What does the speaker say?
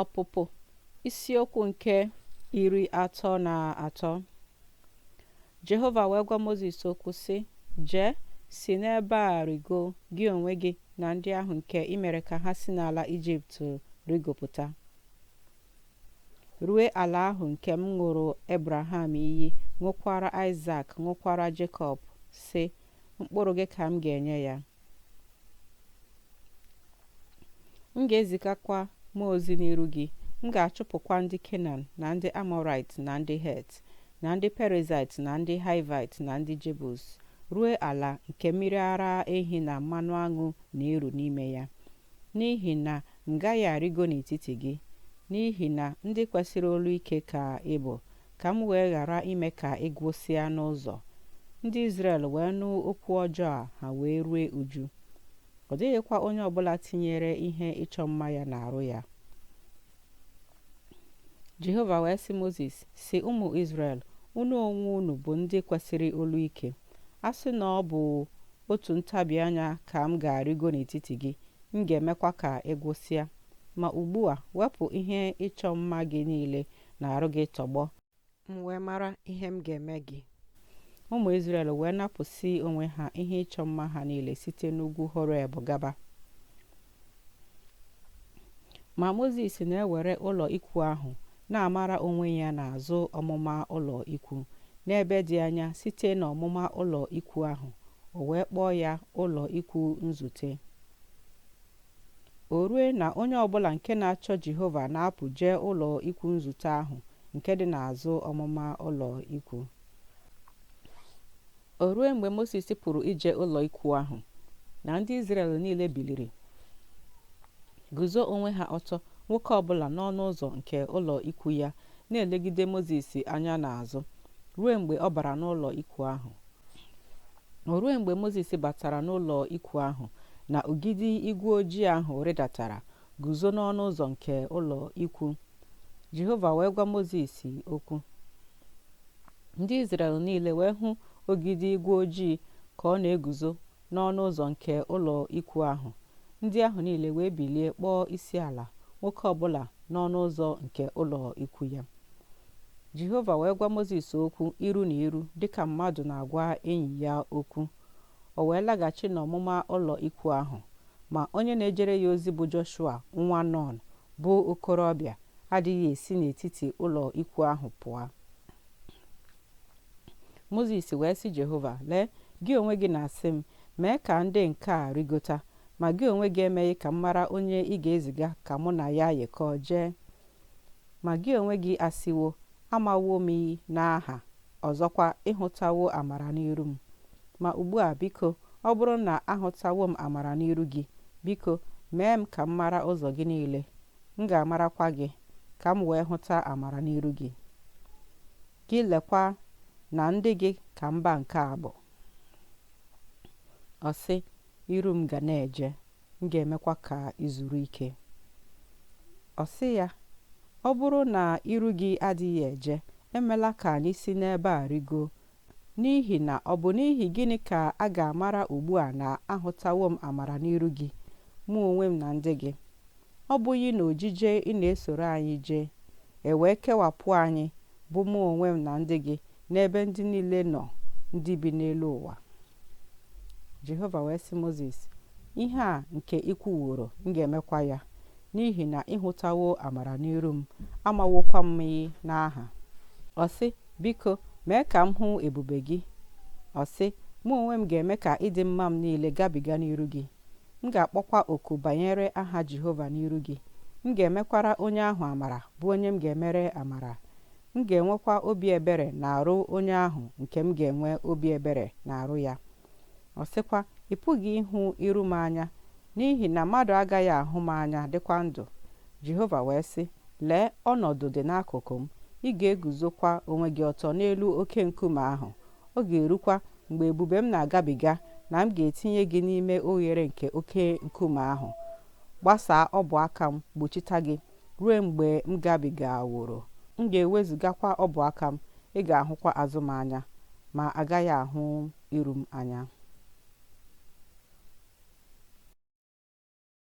Ọpụpụ isiokwu nke iri atọ na atọ Jehova wee gwa Mozis okwu sị jee si n'ebe a rịgo gị onwe gị na ndị ahụ nke i mere ka ha si n'ala Ijipt rịgopụta rue ala ahụ nke m ṅụrụ Ebraham iyi ṅụkwara Aịsak ṅụkwara Jekọb sị mkpụrụ gị ka m ga-enye ya m ga-ezigakwa mmụọ ozi n'iru gị m ga-achụpụkwa ndị kenan na ndị amọrait na ndị het na ndị perizait na ndị haivait na ndị jebus ruo ala nke mmiri ara ehi na mmanụ aṅụ na-eru n'ime ya n'ihi na m gaghị arịgo n'etiti gị n'ihi na ndị kwesịrị olu ike ka ị bụ ka m wee ghara ime ka ị gwụsịa n'ụzọ ndị Izrel wee nụ okwu ọjọọ a ha wee rue uju ọ dịghịkwa onye ọbụla tinyere ihe ịchọ mma ya n'arụ ya Jehova wee sị Mozis sị ụmụ Izrel unu onwe unu bụ ndị kwesịrị olu ike a sị na ọ bụ otu ntabi anya ka m ga-arịgo n'etiti gị m ga-emekwa ka ị gwụsịa ma ugbu a wepụ ihe ịchọ mma gị niile n'arụ gị tọgbọ m wee mara ihe m ga-eme gị ụmụ Izrel wee napụsị onwe ha ihe ịchọ mma ha niile site n'ugwu Horeb gaba ma Mozis na-ewere ụlọ ikwu ahụ na-amara onwe ya n'azụ ọmụma ụlọ ikwu n'ebe dị anya site n'ọmụma ụlọ ikwu ahụ o wee kpọọ ya ụlọ ikwu nzute O rue na onye ọ bụla nke na-achọ Jehova na-apụ jee ụlọ ikwu nzute ahụ nke dị n'azụ ọmụma ụlọ ikwu. O rue mgbe Mozis pụrụ ije ụlọ ikwu ahụ, na ndị Izrel niile biliri guzo onwe ha ọtọ nwoke ọbụla n'ọnụ ụzọ nke ụlọ ikwu ya na-elegide Mozis anya n'azụ ruo mgbe ọ bara n'ụlọ ikwu ahụ. O ruo mgbe Mozis batara n'ụlọ ikwu ahụ, na ogidi igwe ojii ahụ rịdatara guzo n'ọnụ ụzọ nke ụlọ ikwu. Jehova wee gwa Mozis okwu. Ndị Izrel niile wee hụ ogidi igwe ojii ka ọ na-eguzo n'ọnụ ụzọ nke ụlọ ikwu ahụ. Ndị ahụ niile wee bilie kpọọ isi ala, nwoke ọbụla n'ọnụ ụzọ nke ụlọ ikwu ya. Jehova wee gwa Mozis okwu iru na iru dịka mmadụ na-agwa enyi ya okwu. O wee laghachi n'ọmụma ụlọ ikwu ahụ, ma onye na-ejere ya ozi bụ Joshua nwa Nọn bụ okorobịa adịghị esi n'etiti ụlọ ikwu ahụ pụọ. Mozis wee sị Jehova, Lee, gị onwe gị na-asị m, mee ka ndị nke a rigota, ma gị onwe gị emeghị ka m mara onye ị ga-eziga ka mụ na ya yikọọ jee. Ma gị onwe gị asịwo, Amawo m gị n'aha, ọzọkwa, ị hụtawo amara n'iru m. Ma ugbu a, biko, ọ bụrụ na ahụtawo m amara n'iru gị, biko, mee m ka m mara ụzọ gị niile, m ga-amarakwa gị, ka m wee hụta amara n'iru gị. Gị lekwa na ndị gị ka mba nke a bụ. Ọ sị, Iru m ga na-eje. M ga-emekwa ka i zuru ike. Ọ sị ya, Ọ bụrụ na iru gị adịghị eje, emela ka anyị si n'ebe a rigo, n'ihi na ọ bụ n'ihi gịnị ka a ga-amara ugbu a na ahụtawo m amara n'iru gị, mụ onwe m na ndị gị? Ọ bụghị n'ojije ị na-esoro anyị jee, e wee kewapụ anyị, bụ mụ onwe m na ndị gị, n'ebe ndị niile nọ ndị bi n'elu ụwa? jehova wee sị mozis ihe a nke i kwuworo m ga-emekwa ya n'ihi na ị hụtawo amara n'iru m amawokwa m gị n'aha ọ sị biko mee ka m hụ ebube gị ọ sị mụ onwe m ga-eme ka ịdị mma m niile gabiga n'iru gị m ga-akpọkwa oku banyere aha jehova n'iru gị m ga-emekwara onye ahụ amara bụ onye m ga-emere amara M ga-enwekwa obi ebere n'arụ onye ahụ nke m ga-enwe obi ebere n'arụ ya. Ọ sịkwa, Ị pụghị ịhụ iru m anya, n'ihi na mmadụ agaghị ahụ m anya dịkwa ndụ. Jehova wee sị, Lee, ọnọdụ dị n'akụkụ m, ị ga-eguzokwa onwe gị ọtọ n'elu oke nkume ahụ. Ọ ga-erukwa mgbe ebube m na-agabiga na m ga-etinye gị n'ime oghere nke oke nkume ahụ, gbasaa ọbụ aka m, gbochita gị. ruo mgbe m gabigaworo, m ga-ewezugakwa ọbụ aka m, ị ga-ahụkwa azụ m anya, ma agaghị ahụ iru m anya.